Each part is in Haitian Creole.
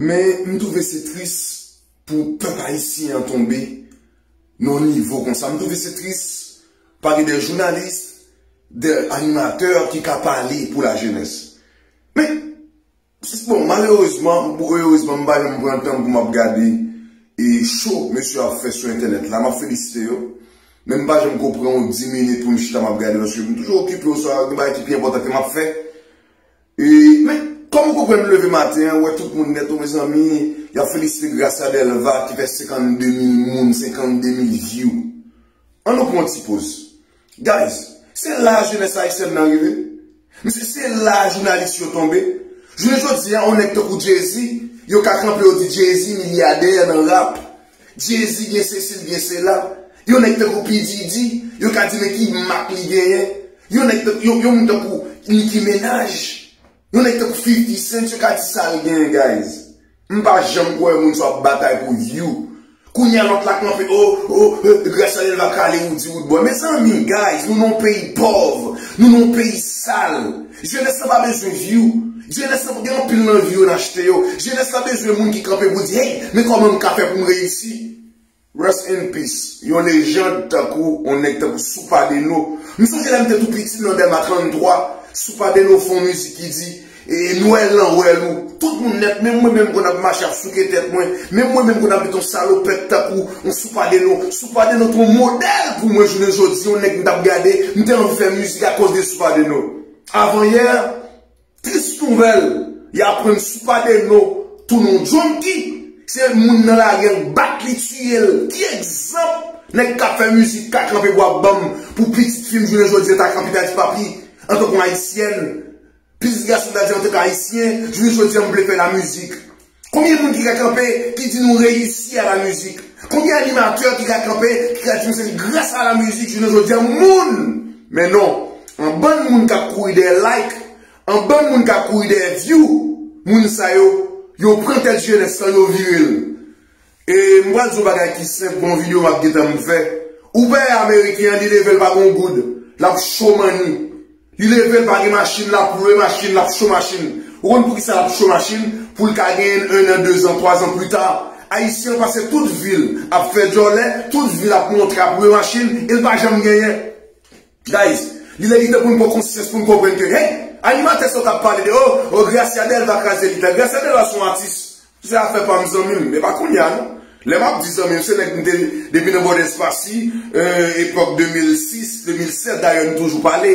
Men m twouve se tris pou pèp ayisyen an tonbe nan yon nivo konsa. M twouve se tris pa gen de jounalis, de animatè ki ka pale pou lajenès. Men, Bon malerezman ou erezman m pa janm pran tanm pou map gade e cho mesye yo ap fè sou entènèt la map felisite yo men m pa janm ko pran yon 10 minit pou m chita map gade paske m toujou okipe oswa gen bagay ki pi enpòtan ke map fè e men kòm ou konprann m leve maten an wè tout moun nèt o mezanmi yap felisite Gracia Delva ki fè 52 mil moun 52 mil vyou an nou pran yon ti poz. Guys, se la jenès ayisyèn nan rive. Mesye se la jounalis yo tonbe. Jounen jodi a yon nèg tankou Jay-Z, yo ka kanpe yo di Jay-Z milyadè nan rap. Jay-Z gen sesi li gen sela. Yon nèg tankou P. Diddy, yo ka di men ki mak li genyen. Yon nèg tankou, yon moun tankou Nicki Menaj. Yon nèg tankou 50 cent yo ka di sal gen guys. M pa janm kwè moun sa ap batay pou view. Kounya lòt la kanpe oh oh gras a delva kale roody rood boy. Mezanmi guys nou nan yon peyi pòv, nou nan yon peyi sal. Jenès la pa bezwen view. Jenès la gen anpil nan view yo nan achte yo. Jenès la bezwen moun ki kanpe pou di hey men kòman m ka fè pou m reyisi. Rest in peace yon lejand tankou yon nèg tankou Soupa Deno m sonje lèm te tou piti nan Dèlma 33 Soupa Deno fè yon mizik ki di Nwèl lan wèl ou tout moun nèt menm mwen menm m konn ap mache ap souke tèt mwen menm mwen menm m konn ap met yon salopèt tankou yon Soupa Deno Soupa Deno te yon modèl pou mwen jounen jodi yon nèg m tap gade m te anvi fè mizik akoz de Soupa Deno Avanyè Tris nouvèl, y aprann Soupade No tou non Junky, se moun nan lari an k bat li tiye l, ki egzanp nèg k ap fè mizik ka kanpe pou ap banm pou pitit fi m jounen jodi an ta kanpe ta di papi antank yon ayisyèn, pitit gason m ta di antank ayisyen, jounen jodi an m vle fè la mizik. Konbyen moun ki ka kanpe ki di nou reyisi a la mizik? Konbyen animatè ki ka kanpe ki ka di nou se gras a la mizik jounen jodi a moun men non an bann moun kap kouri dèyè like an bann moun kap kouri dèyè view moun sa yo yo pran tèt jenès lan yo vire l e m pral di w bagay ki senp gon video map gentan m fè ou pè ameriken an li leve l pa gon goud lap cho manni. Li leve l pa gen machin l ap lwe machin l ap cho machin ou konn poukisa l ap cho machin pou l ka genyen l 1 an 2 zan 3 zan plita ayisyen an pase tout vi l ap fè djòlè tout vi l ap montre ap lwe machin e l pa janm genyen guys li lè li tan pou n pran konsyans pou n konprann ke hey animatè sa w t ap pale de oh oh gracia delva kraze lit la gracia delva son atis Se afè pam zanmim men pa kounya non lè map di zanmim se nèg m te depi nan bò dèspasi epòk 2006 2007 dayè nou toujou pale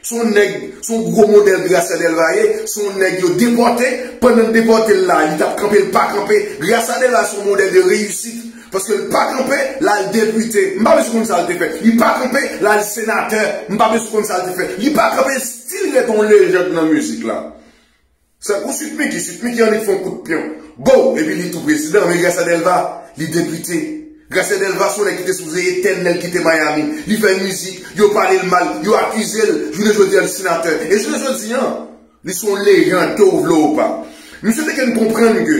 se yon nèg se yon gwo modèl Gracia Delvaye se yon nèg yo depòte pandan yo depòtel la li tap kanpe li pa kanpe Gracia Delvaye se yon modèl de reyisit paske li pa kanpe lal depite m pa bezwen konn sal te fè li pa kanpe lal senatè m pa bezwen konn sal te fè li pa kanpe stil rete yon lejand nan mizik la. Se pou Sweet Micky, Sweet Micky annik fon kout pyon. Boo! Epi li tou prezidan, men Gracia Delva, li depite. Gracia Delva son nèg ki te sipoze etènèl kite Miami. Li fè mizik, yo pale l mal, yo akize l, jounen jodi an li senatè. E jounen jodi an, li son lejand ke ou vle ou pa. Misye te ken konprann ke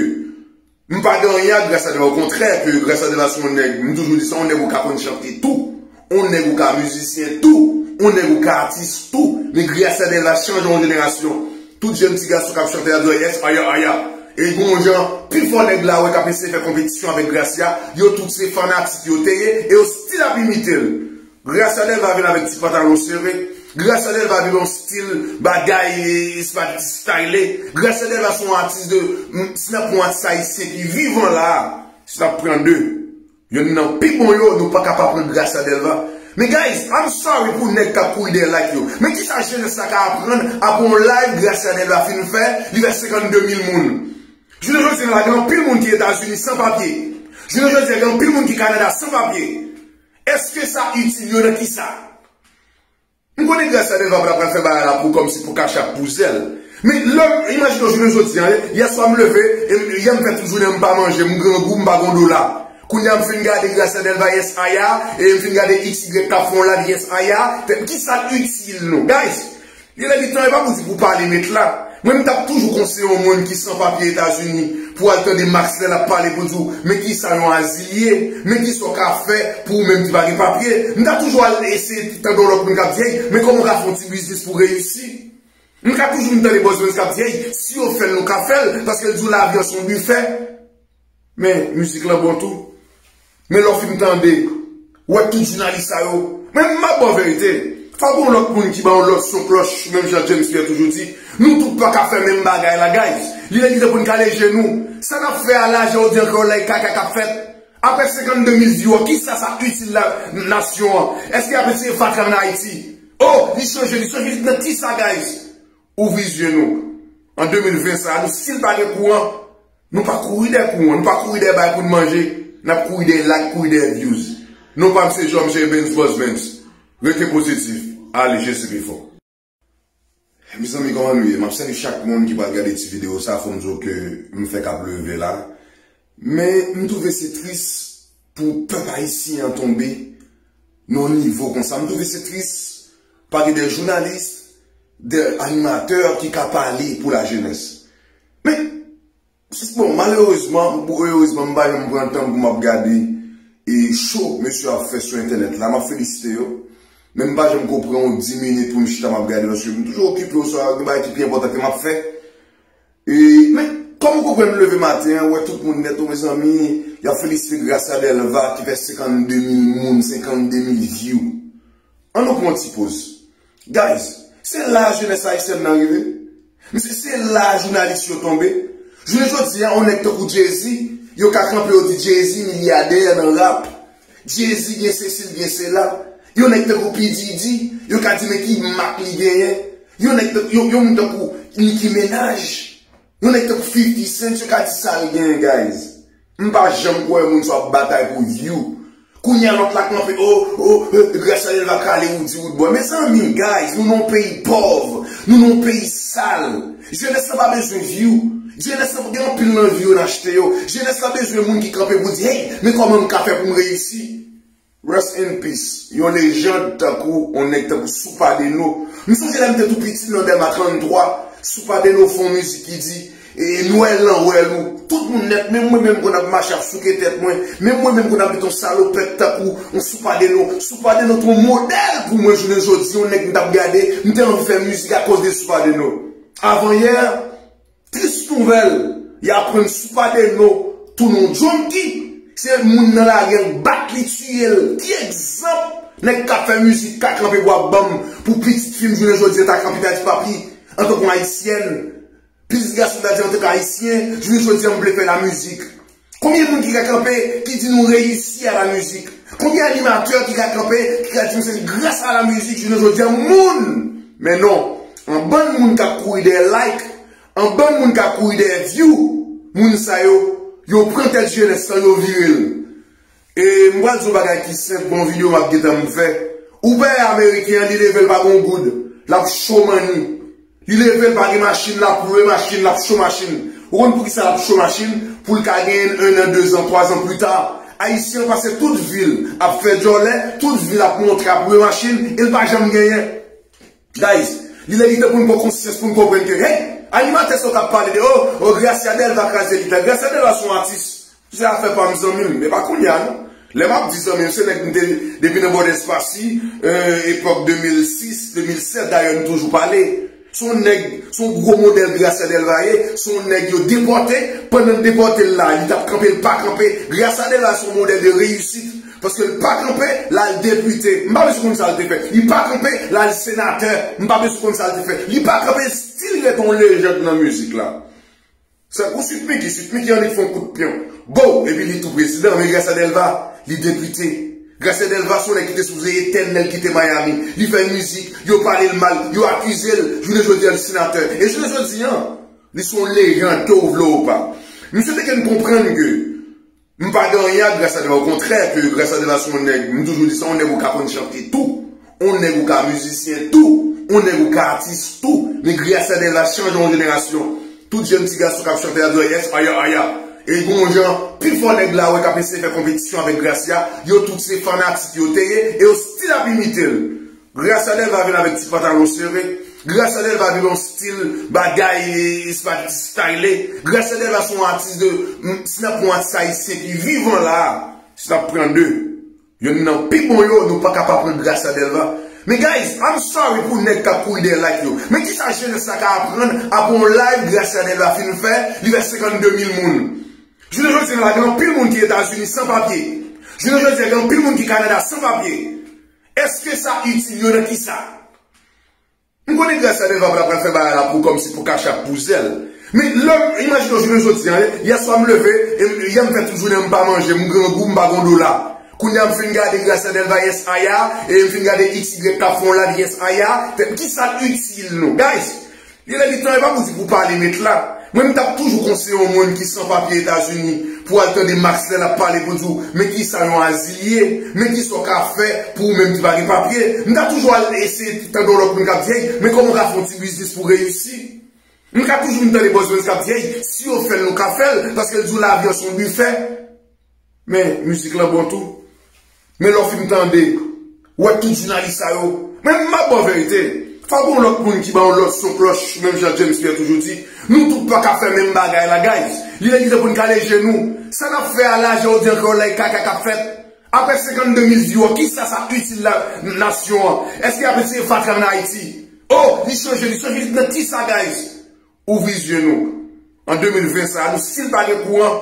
M pa gen anyen ak Grace Adela okontrè ke Grace Adela se yon nèg, m toujou di sa, yon nèg ou ka konn chante tou, yon nèg ou ka mizisyen tou, yon nèg ou ka atis tou, men Grace Adela chanje yon jenerasyon. Tout jèn ti gason k ap chante la di yo yes aya aya. E gen yon jan pi fò nèg la wè k ap eseye fè konpetisyon avèk Gracia, yo tout se fanatik yo te ye e yo stil ap imite l. Gracia Delva vin avèk ti pantalon sere, Gracia Delva vin yon stil bagay se pa ti style, Gracia Delva se yon atis de, si nap pran yon atis ayisyen ki vivan la, si nap pran 2, yonn nan pi bon yo, nou paka pa pran Gracia Delva. Men guys, I'm sorry pou nèg kap kouri dèyè like yo, men kisa jenès la ka aprann aprè yon live Gracia Delva fin fè, li fè 52 mil moun? Jounen jodi la gen anpil moun ki Etazini san papye, jounen jodi gen anpil moun ki Kanada san papye, Eske sa itil yo nan kisa? M konnen Gracia Delva pa pral fè bagay la pou kòmsi pou kachap pou zèl men lèm imajine jounen jodi an yè swa m leve yè m fè tout jounen an m pa manje m grangou m pa gon dola kounye a m fin gade Gracia Delva yes aya e m fin gade xy kap fè yon live yes aya tèt kisa l itil nou guys Gen lè li tan e pa pou di pou pale met la. Mwen m tap toujou konseye yon moun ki san papye etazini pou al tande max lè lap pale poul di w men kisa yon azil ye men kisa w ka fè pou ou menm ki pa gen papye m ta toujou al eseye tande yon lòt moun kap di hey men kòman w ka fè yon ti biznis pou reyisi m ka toujou m tande bòzònn kap di hey si yo fèl nou ka fèl paske l di w lavi an son bifè. Men mizik lan bon tou. Men lè w fin tande, w wè tout jounalis sa yo. Men m ap ba w verite, fò gen yon lòt moun ki ba yon lòt son klòch menm jan James Pierre toujou di, nou tout pa ka fè menm bagay la guys. Li lè ki tan pou n kale je nou. Sa n ap fè a la, jan w di ankò la e kaka k ap fèt. Aprè 52 mil vyou a, ki sa sa itil la nasyon an? Eske y ap eseye fatra an Ayiti? Oh, li chanje, li chanje, li nan ki sa guys? Ouvri zye nou an 2020 sa nou sil pa gen kouran nou pa kouri dè kouran nou pa kouri dè bay poun manje nap kouri dè like kouri dè views non pam se jòm jè Evens Boss Vens rete pozitif ale Jezi pi fò. Mezanmi kòman nou ye? Map salye chak moun ki pral gade ti video sa fòm diw ke m fèk ap leve la Men m twouve se tris pou pèp ayisyen an tonbe nan yon nivo konsa. M twouve se tris pa gen de jounalis, de animatè ki ka pale pou la jenès. Men, bon malerezman ou erezman m pa janm pran tan pou m ap gade e cho mesye ap fè sou entènèt la. M ap felisite yo. Men m pa janm ko pran yon di minit pou m chita m ap gade paske m toujou okipe oswa gen bagay ki pi enpòtan ke m ap fè. Men, kòm ou konprann m leve maten an, wè tout moun nèt o mezanmi, y ap felisite Gracia Delva ki fè 52 mil moun, 52 mil vyou. An nou pran yon ti poz. Guys, se la jenès ayisyèn nan rive. Mesye, se la jounalis yo tonbe. Jounen jodi a, yon nèg tankou Jay-Z, yo ka kanpe yo di Jay-Z milyadè nan rap. Jezi gen sesi l gen sela. Yon nèg tankou P Diddy, yo ka di men ki mak li genyen. Yon nèg tankou, yon moun tankou Nicki Menaj. Yon nèg tankou 50 Cent yo ka di sal genyen guys. M pa janm kwè moun sa wap batay pou view. Kounye a lòt la kanpe oh oh eh Gracia Delva kale Roody Roodboy. Mezanmi guys nou nan yon peyi pòv. Nou nan yon peyi sal. Jenès lan pa bezwen view. Jenès lan gen anpil nan view yo nan achte yo. Jenès lan bezwen moun ki kanpe pou di hey men kòman m ka fè pou m reyisi. Rest in peace yon lejand tankou yon nèg tankou Soupa Deno m sonje lèm te tou piti nan Dèlma 33 Soupa Deno fè yon mizik ki di ee nwèl lan wèl ou tout moun nèt menm mwen menm m konn ap mache ap souke tèt mwen menm mwen menm m konn ap met yon salopèt tankou Ou sou pa de nou, sou pa de nou t yon modèl pou mwen jounen jodi yon nèg m tap gade m te anvi fè mizik akoz de sou pa de nou. Avan yè, tris nouvèl, y aprann sou pa de nou tounen yon junkie, se moun nan lari an k bat li tiye l, ki egzanp nèg kap fè mizik ka kanpe pou ap banm pou pitit fi m jounen jodi an ta kanpe ta di papi antank yon ayisyèn Plis gras nou ta di antank ayisyen jounen jodi a nou vle fè la mizik. Konbyen moun ki ka kanpe ki di nou reyisi a la mizik? Konbyen animatè ki ka kanpe ki ka di nou se gras a la mizik jounen jodi a moun Men non, anbann moun kap kouri dèyè like, anbann moun ka kouri dèyè view, moun sa yo, yo pran tèt jenès lan yo vire l. E m pral di yon bagay ki senp bon video map gentan m fè ou pè ameriken an li level pa gon goud lap cho manni li level pa gen machin lap lwe machin lap cho machin ou konn poukisa lap cho machin poul ka genyenn 1 an 2 zan 3 zan plita ayisyen an pase tout vil ap fè djòlè tout vil ap montre ap lwe machin el pa janm genyen. Guys, li lè li tan poun pwan konsyans poun konprann ke hey, animatè sa w tap pale de oh, oh Gracia Delva kraze lit la, Gracia Delva son atis, se afè pam zanmim, men pa kounya non, lè map di zanmim se nèg m te depi nan bòdè espasi, euh epòk 2006, 2007 dayè nou toujou pale, son nèg, son gwo modèl Gracia Delva ye, son nèg yo depòte, pandan depòtel la li tap kanpe l pa kanpe, Gracia Delva son modèl de reyisit, Paske l pa kanpe, l al depite. M pa bezwen konn sa l te fè. Li pa kanpe, l al senatè. M pa bezwen konn sa l te fè. Li pa kanpe, l stil ret yon lejand nan mizik la. Sa, ou Sweet Micky? Sweet Micky annik fon kout pyon. Bow! Epi li tou prezidan. Men Gracia Delva, li depite. Gracia Delva se yon nèg ki te sipoze etènèl kite Miami. Li fè mizik, yo pale l mal, yo akize l. Jounen jodi a, l senatè. E jounen jodi a, li se yon lejand, ke ou vle ou pa. Misye te gen konprann ke. M pa gen anyen ak Grace Adela okontrè ke Grace Adela se yon nèg, m toujou di sa, yon nèg ou ka konn chante tou, yon nèg ou ka mizisyen tou, yon nèg ou ka atis tou, men Grace Adela chanje yon jenerasyon. Tout jèn ti gason k ap chante la di yo yes aya aya. E gen yon jan pi fò nèg la wè k ap eseye fè konpetisyon avèk Gracia, yo tout se fanatik yo te ye e yo stil ap imite l. Gracia Delva vin avèk ti pantalon sere, Gracia Delva vin yon stil bagay se pa ti style, Gracia Delva se yon atis de, si nap pran yon atis ayisyen ki vivan la, si nap pran 2, yonn nan pi bon yo, nou paka pa pran Gracia Delva. Men guys, I'm sorry pou nèg kap kouri dèyè like yo, men kisa jenès la ka aprann aprè yon live Gracia Delva fin fè, li fè 52 mil moun? Jounen jodi la gen anpil moun ki Etazini san papye, jounen jodi gen anpil moun ki Kanada san papye, Eske sa itil yo nan kisa? M konnen Gracia Delva pa pral fè bagay la pou kòmsi pou kachap pou zèl men lèm imajine jounen jodi an yè swa m leve em yè m fè tout jounen an m pa manje m grangou m pa gon dola kounye a m fin gade Gracia Delva yes aya em fin gade xy kap fè yon live yes aya tèt kisa l itil nou guys Gen lè li tan epa pou di pou pale met la. Mwen m tap toujou konseye yon moun ki san papye etazini pou al tande max lè lap pale pou di w men kisa yon azil ye men kisa w ka fè pou ou menm ki pa gen papye m ta toujou al eseye tande yon lòt moun kap di hey men kòman w ka fè yon ti biznis pou reyisi m ka toujou vin tande bòzòz kap di hey si yo fèl nou ka fèl paske l di w lavi an son bifè. Men mizik lan bon tou. Men lè w fin tande, w wè tout jounalis sa yo. Men m ap ba w verite, fò gen yon lòt moun ki ba yon lòt son klòch menm jan James Pierre toujou di, nou tout pa ka fè menm bagay la guys. Li lè ki tan pou n kale je nou. Sa n ap fè a la, jan w di ankò la e kaka k ap fèt. Aprè 52 mil vyou a, ki sa sa itil la nasyon an? Eske y ap eseye fatra nan Ayiti? Oh, li chanje, li chanje nan ki sa guys? Ouvri zye nou. An 2020 sa a nou si n pa gen kouran,